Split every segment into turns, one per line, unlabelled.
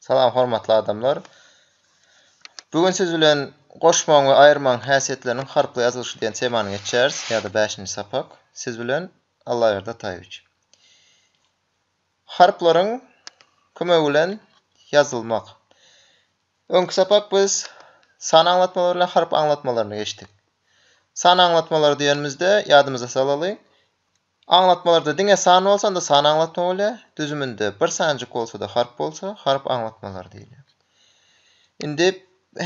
Salam hormatly adamlar. Bu gün siz bilen goşmagyň we aýyrmagyň häsiýetleriniň harply ýazylyşy diýen temany geçýäris ýa-da bäşinji sapak. Siz bilen Allaberdi Ataýewiç. Harplaryň kömegi bilen ýazylmak. Öňki sapak biz san aňlatmalary bilen harp aňlatmalaryny geçdik. San aňlatmalary diýenimizde ýadymyza salaly. Aňlatmalarda diňe san bolsanda san aňlatma bolýar, düzüminde bir sanjyk bolsada harp bolsa harp aňlatmalary diýilýär. Indi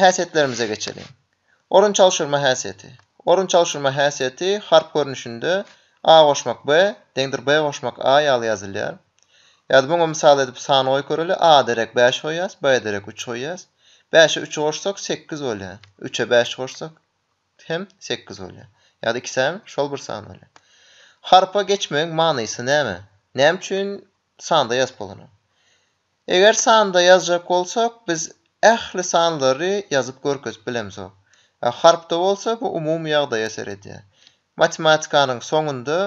häsiýetlerimize geçeliň. Orun çalşyrma häsiýeti. Orun çalşyrma häsiýeti harp görnüşinde A goşmak B deňdir B goşmak A ýaly ýazylýar. Ýa-da muňa mysal edip san goýup göreli, A-a derek bäş goýýas, B-e derek üç goýýas. Bäşe üçi goşsak sekiz bolýar. Üçe bäşi goşsak hem sekiz bolýar. Ýa-da iki san şol bir san bolýar. Harpa geçmegiň manysy näme? Näme üçin sanda ýazyp bolanok? Eger sanda ýazjak bolsak, biz ähli sanlary ýazyp görkezip bilemzok. A harpda bolsa bu umumy ýagdaýa ser edýär. Matematikanyň soňunda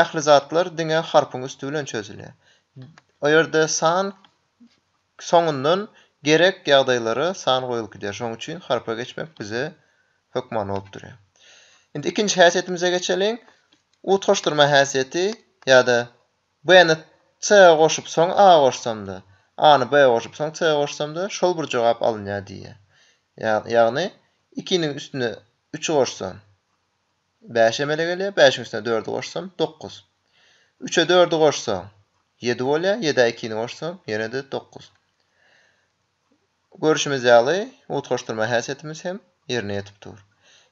ähli zatlar diňe harpyň üsti bilen çözülýär. O ýerde san Soňundan gerek ýagdaýlara san goýulyp gidýär. Şonuň üçin harpa geçmek bize hökmany bolup durýar. Indi ikinji häsiýetimize geçeliň. Utgaşdyrma häsiýeti ýa-da B-ni C-a goşup, soň A goşsam-da, A-ny B-a goşup, soň C-a goşsam-da, şol bir jogap alynýar diýýär. Ýagny, ikiniň üstüne üçi goşsam, Bäş emele gelýär, bäşiň üstüne dördi goşsaň, dokuz. Üçe dördi goşsaň, ýedi bolýar, ýedä ikini goşsaň, ýene-de dokuz. Görşümiz ýaly, utgaşdyrma häsiýetimiz hem ýerine ýetip dur.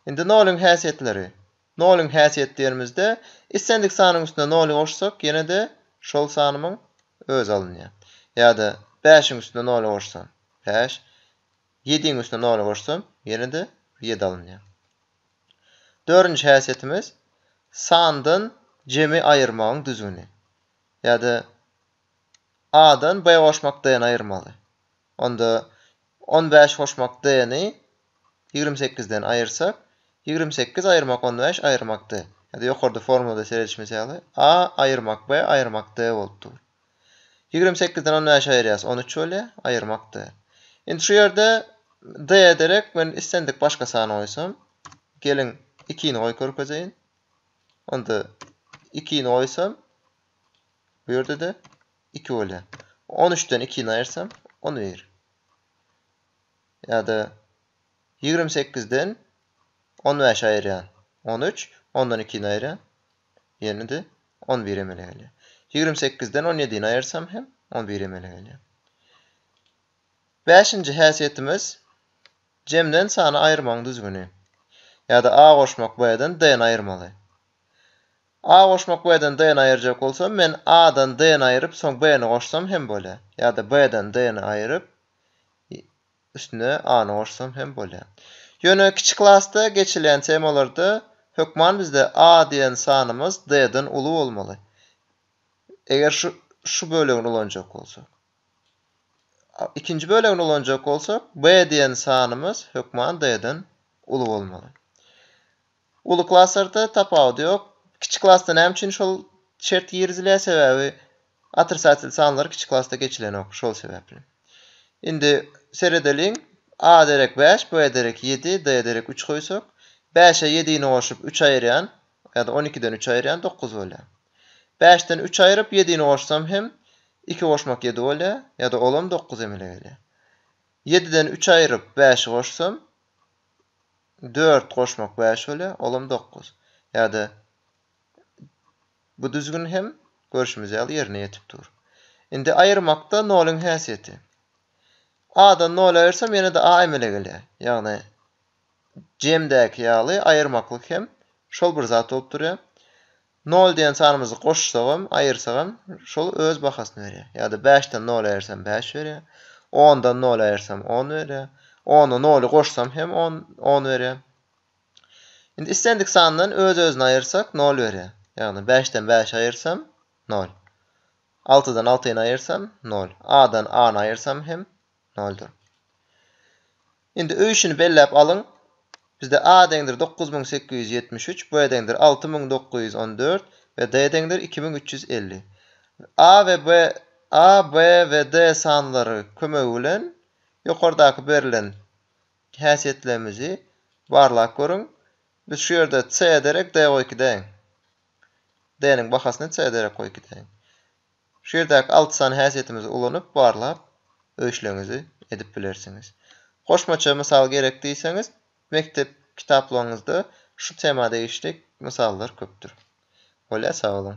Indi noluň häsiýetleri. Noluň häsiýeti diýenimizde, islendik sanyň üstüne noly goşsak, ýene-de şol sanymyň özi alynýar. Ýa-da bäşiň üstüne noly goşsam, bäş, ýediň üstüne noly goşsam, ýene-de ýedi alynýar. Dördünji häsiýetimiz, sandan jemi aýyrmagyň düzgüni. Ýa-da A-dan B goşmak D-ni aýyrmaly. Onda on bäş goşmak D-ni ýigrimi sekizden aýyrsak, ýigrimi sekiz aýyrmak on bäş aýyrmak D. Ýa-da ýokarda formulada seredişimiz ýaly, A aýyrmak B aýyrmak D bolup dur. Ýigrimi sekizden on bäş aýyrýas, on üç bolýar, aýyrmakdy. Indi şu ýerde D ederek, men islendik başga sany goýsam, geliň, ikini goýup görkezeýin. Onda ikini goýsam, bu ýerde-de iki bolýar. On üçden ikini aýyrsam, on bir. Ýa-da ýigrimi sekizden on bäşi aýyrýan, on üç, ondan ikini aýyrýan, ýene-de on bir emele gelýär. Ýigrimi sekizden on ýedini aýyrsam hem on bir emele gelýär. Bäşinji häsiýetimiz jemden sany aýyrmagyň düzgüni. Ýa-da A goşmak B-den D-ni aýyrmaly. A goşmak B-den D-ni aýyrjak bolsam, men A-dan D-ni aýryp, soň B-ni goşsam hem bolýar. Ýa-da B-den D-ni aýryp, Üstüne A-ny goşsam hem bolýar. Ýöne kiçi klasda geçilýän temalarda hökman bizde A diýen sanymyz D-den uly bolmaly. Eger şu şu bölegini ulanjak bolsak. Ikinji bölegini ulanjak bolsak, B diýen sanymyz hökman D-den uly bolmaly. Uly klaslarda tapawudy ýok. Kiçi klasda näme üçin şol şert girizilýär sebäbi otrisatel sanlar kiçi klasda geçilenok şol sebäpli. Indi seredeliň A derek bäş B derek ýedi D derek üç goýsak bäşe ýedini goşup üç aýyrýan ýa-da on ikiden üç aýyrýan dokuz bolýar. Bäşden üç aýryp ýedini goşsam hem iki goşmak ýedi bolýar ýa-da olam dokuz emele gelýär. Ýediden üç aýryp bäşi goşsam Dört goşmak bäş bolýa, olam dokuz. Ýa-da bu düzgün hem görşümiz ýaly ýerine ýetip dur. Indi aýyrmakda nolyň häsiýeti. A-dan noly aýyrsam ýene-de A emele gelýär. Ýagny jemdäki ýaly aýyrmaklyk hem şol bir zat bolup durýar. Nol diýen sanymyzy goşsagam, aýyrsagam şol öz bahasyny berýär. Ýa-da bäşden noly aýyrsam bäş berýär. Ondan noly aýyrsam on berýär. Ona noly goşsam hem on on berýär. Indi islendik sandan öz-özüni aýyrsak nol berýär. Ýagny bäşden bäşi aýyrsam nol. Altydan altyny aýyrsam nol. A-dan A-ny aýyrsam hem Noldur. Indi öý işini belläp alyň. Bizde A deňdir dokuz müň sekiz ýüz ýetmiş üç, B deňdir alty müň dokuz ýüz on dört we D deňdir iki müň üç ýüz elli. A we B A, B we D sanlary kömegi bilen ýokardaky berlen häsiýetlerimizi barlap görüň. Biz şu ýerde C derek D goý iki deň. D-niň bahasyny C derek goý iki deň. Şu ýerdäki alty sany häsiýetimizi ulanyp barlap, öý işleriňizi edip bilersiňiz. Goşmaça mysal gerek diýseňiz, mekdep kitaplaryňyzda şu tema degişlik mysallar köpdür. Bolýar, sag boluň!